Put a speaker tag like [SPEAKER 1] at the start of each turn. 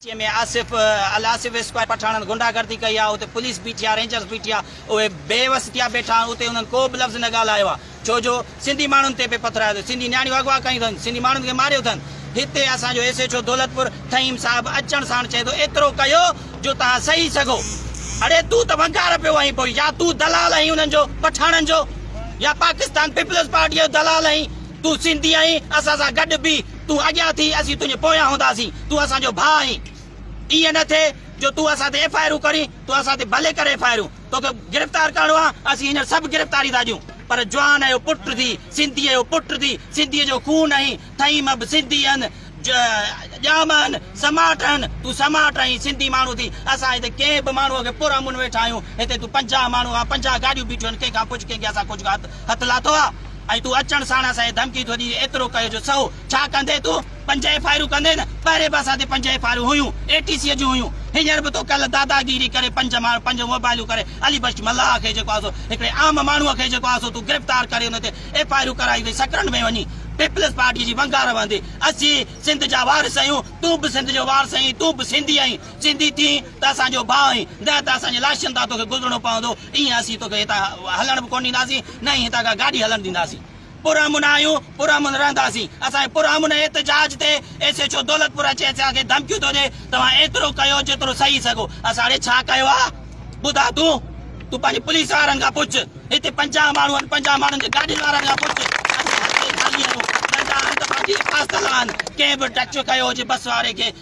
[SPEAKER 1] جنهن ۾ آصف الآصف اسڪوائر پٺاڻن غنڊا گردي ڪئي آ اتي پوليس بيٺي آ رينجرز بيٺي آ اهي بي وس ٿيا بيٺا آهن اتي انهن ڪو به لفظ نه ڳالهايو آ ڇو جو سنڌي ماڻهن تي پي پٿرايو اٿن سنڌي نياڻيون اغوا ڪيون اٿن سنڌي ماڻهن کي ماريو اٿن هتي اسان جو S H O Daulatpur Faheem صاحب اچڻ ساڻ چئي ٿو ايترو ڪيو جو توهان سهي سگهو اڙي تون ته ونگار پيو آهين پوء يا تون دلال آهين انهن جو پٺاڻن جو يا پاڪستان پيپلز پارٽيء جو دلال آهين تون سنڌي آهين اسان سان گڏ بيهه تون اڳيان ٿي، اسين تنهنجي پويان هونداسين، تون اسان جو ڀاء آهين، ائين نه ٿئي جو تون اسان تي ايف آء آرون ڪرين، تون اسان تي ڀلي ڪر ايف آء آرون، توکي گرفتار ڪرڻو آ، اسين هينئر سڀ گرفتاري ٿا ڏيون، پر جوان جو پٽ ٿي، سنڌيء جو پٽ ٿي، سنڌيء جو خون آهين، ٿئين مب سنڌي هن، ڄام هن، سماٽ هن، تون سماٽ آهين، سنڌي ماڻهو ٿي، اسان هتي ڪنهن به ماڻهوء کي پر امن ويٺا آهيون، هتي تون پنجاهه ماڻهو آ، پنجاهه گاڏيون بيٺيون آهن، ڪنهن کان پڇ ڪنهن کي اسان ڪجهه هٿ لاٿو آ؟ ۽ تون اچڻ ساڻ اسان کي ڌمڪي ٿو ڏين ايترو ڪيو جو سهو ڇا ڪندين تون پنج ايف آء آرون ڪندين نه پهرين به اسان تي پنج ايف آء آرون هيون اي ٽي سي جون هيون هينئر به تو ڪل داداگيري ڪري پنج ماڻهو پنج موبائلون ڪري علي بخش ملاح کي جيڪو آهي سو هڪڙي عام ماڻهو کي جيڪو آهي سو تون گرفتار ڪري ان تي ايف آء آرون ڪرائي وئي سڪرنڊ ۾ وڃي پيپلز پارٽي جي ونگار وهندي اسين سنڌ جا وارث آهيون تون به سنڌ جو وارث آهين تون به سنڌي آهين سنڌي ٿين ته اسان جو ڀاء آهين نه ته اسان جي لاشن تان توکي گذرڻو پوندو ٽينهن اسين توکي هتان هلڻ به ڪونه ڏينداسين نه ئي هتان ڪا گاڏي هلڻ ڏينداسين پرامن آهيون پرامن رهنداسين اسان جي پرامن احتجاج تي ايس ايڇ او دولتپور اچي اسان کي ڌمڪيون ٿو ڏي توهان ايترو ڪيو جيترو سهي سگهو اسان ڙي ڇا ڪيو آهي ٻڌاء تون تون پنهنجي پوليس وارن کان پڇ هتي پنجاهه ماڻهو آهن پنجاهه ماڻهن جي گاڏين وارن کان پڇ اسان هتي خالي آهيون ننڍا آهن ته پنهنجي حفاظت لاء آهن ڪنهن به ٽچ ڪيو هجي بس واري کي